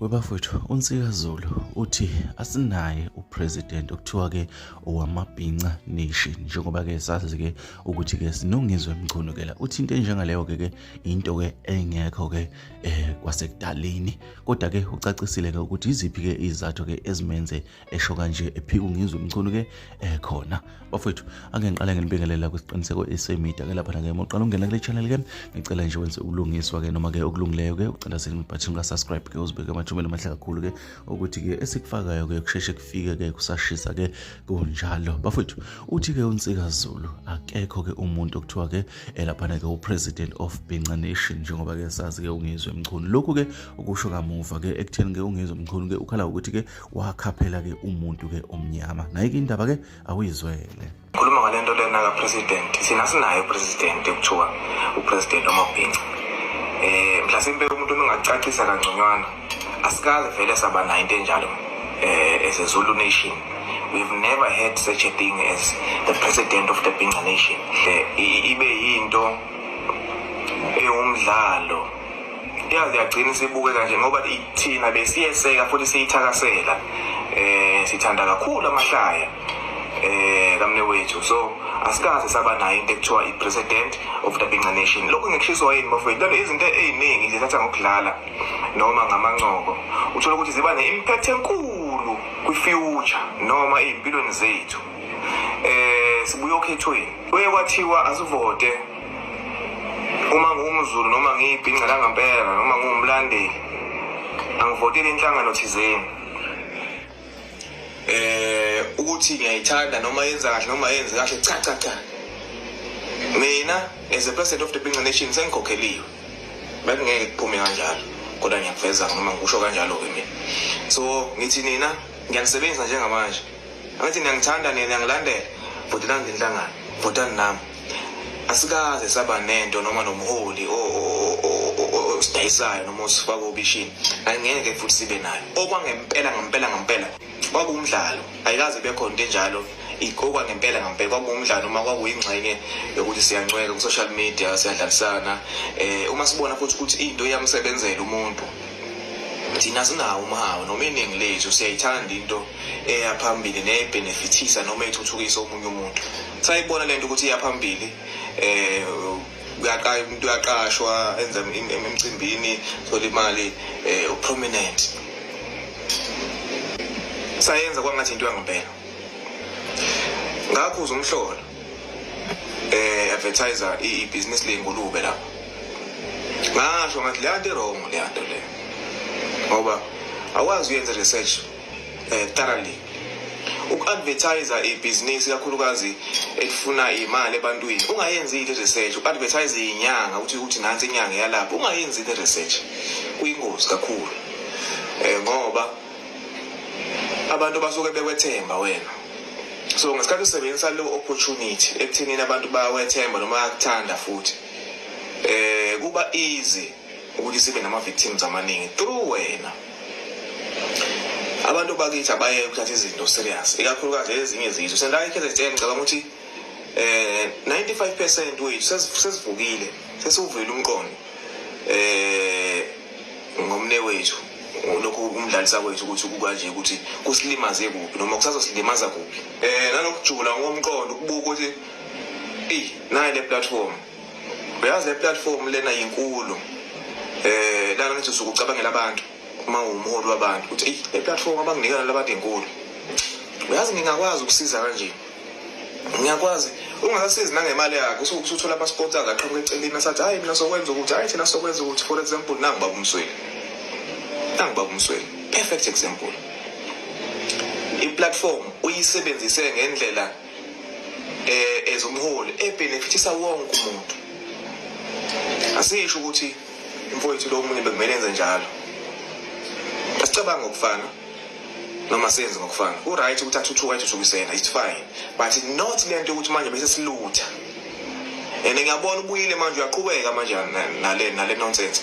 Webafowethu uNsika Zulu uthi asinaye upresident okuthiwa ke owamabhinca nation njengoba ke sazi ke ukuthi ke sinongizwe emchunukela uthi into enjengaleyo ke ke into ke engekho ke eh kwasekudaleni kodwa ke ucacisile ke ukuthi iziphi ke izathu ke ezimenze esho kanje ephika ungizwe umculo ke ekhona eh, bafethu ake ngiqale nginibingelela kwisiqiniseko esemedia ke lapha nake moqala ungena kule channel ke ngicela nje wenze ubulungiswa ke noma ke okulungileyo ke ucela sini button ka subscribe ke uzibeke amathumela amahle kakhulu ke ukuthi ke esikufakayo ke kusheshe kufike ke kusashisa ke kunjalo bafethu uthi ke unsika Zulu akekho ke umuntu okuthiwa ke elapha ke upresident of Binca Nation njengoba ke sazi ke ungizwe mchunu lokhu ke ukusho kamuva ke ekutheni ke ungizwe mchunu ke ukhala ukuthi ke wakha phela ke umuntu ke omnyama naye ke indaba ke awuyizwele khuluma ngale nto lena kapresident thina sinaye upresident ekuthiwa upresident omabhinca um eh, mhlasimpe umuntu nongacacisa kangconywana asikaze vele saba nayo into enjalo um as a zulu nation we've never had such a thing as the president of the binca nation ibe yinto ewumdlalo yazi yagcina isibukeka nje ngoba thina besiyeseka futhi siyithakasela eh sithanda kakhulu amahlaya eh kamne wethu so asikaze saba nayo into ekuthiwa i-president of the Binca Nation lokhu ngikushiswa yini bafowethu lento izinto eziningi nje thatha ngokudlala noma ngamancoko uthola ukuthi ziba ne-impact enkulu kwi-future noma ey'mpilweni zethu eh sibuye okhethweni kuye kwathiwa asivote uma ngumzulu noma ngiyibhinca langampela noma ngumlandeli angivoteli inhlangano thizeni eh ukuthi ngiyayithanda noma yenza kahle noma yenze kahle cha cha cha mina as a president of the Binca Nation sengikhokheliwe bekungeke kuphume kanjalo kodwa ngiyakuveza noma ngikusho kanjalo ke mina so ngithi nina ngiyanisebenzisa njengamanje ngathi niyangithanda nina niyangilandela bhutelani ngenhlangano bhutani nami asikaze saba nento noma nomholi osidayisayo noma osifaka obishini angeke futhi sibe nayo okwangempela ngempela ngempela kwakuwumdlalo ayikaze bekhona into enjalo okwangempela ngempela kwakuwumdlalo uma kwakuyingxenye yokuthi siyancweka ku-social media siyadlalisana um uma sibona futhi ukuthi into iyamsebenzela umuntu thina sinawo umhawu noma iningi lethu siyayithanda into eya phambili neyayibhenefithisa noma ithuthukisa omunye umuntu sayibona lento ukuthi iya phambili eh umuntu uyaqashwa enza emcimbini thola imali eh uprominent sayenza kwangathi into yangempela ngakho uzomhlola eh advertiser i business lengulube lapho ngasho ngathi leyanto irong leyanto le ngoba awazi uyenze research eh, thoroughly uku-advertisa ibhizinisi kakhulukazi elifuna imali ebantwini ungayenzi ile research uku-advertise inyanga ukuthi ukuthi nansi inyanga yalapho ungayenzi ile research kuyingozi kakhulu um ngoba abantu basuke bekwethemba wena so ngesikhathi usebenzisa leyo opportunity ekuthenini abantu bawethemba noma bayakuthanda futhi um kuba easy ukuthi sibe nama-victims amaningi through wena abantu bakithi abaye ukuthatha izinto serious ikakhulukazi ezinye izizwe sela iKZN ngicabanga ukuthi eh 95% wethu sesivukile sesuvile umqondo eh ngomne wethu lokho kumdlalisa kwethu ukuthi kukanje ukuthi kusilimaze kuphi noma kusazosilimaza kuphi eh nalokujula ngomqondo ukubuka ukuthi ey nayi le platform uyazi le platform lena yinkulu eh lana ngithi usuke ucabangela abantu uma uwumholi wabantu ukuthi eyi le platform abanginikana labantu enkulu uyazi ngingakwazi ukusiza kanje ngiyakwazi ungakasizi nangemali yakhe usuke usuthola ama-sports akhe aqhamuka eceleni asathi hhayi mina sokwenza ukuthi hhayi thina sokwenza ukuthi for example nangu baba umsweli nangu baba umsweli perfect example iplatform uyisebenzise ngendlela eh ezomholi ebenefitisa wonke umuntu asisho ukuthi imfowethu lo munye bekumele enze njalo asicabanga ngokufana noma senze ngokufana uright ukuthi athuthuka ethuthukisena it's fine but not le nto yokuthi manje bese silutha and ngiyabona ubuyile manje uyaqhubeka manje nale nale nonsense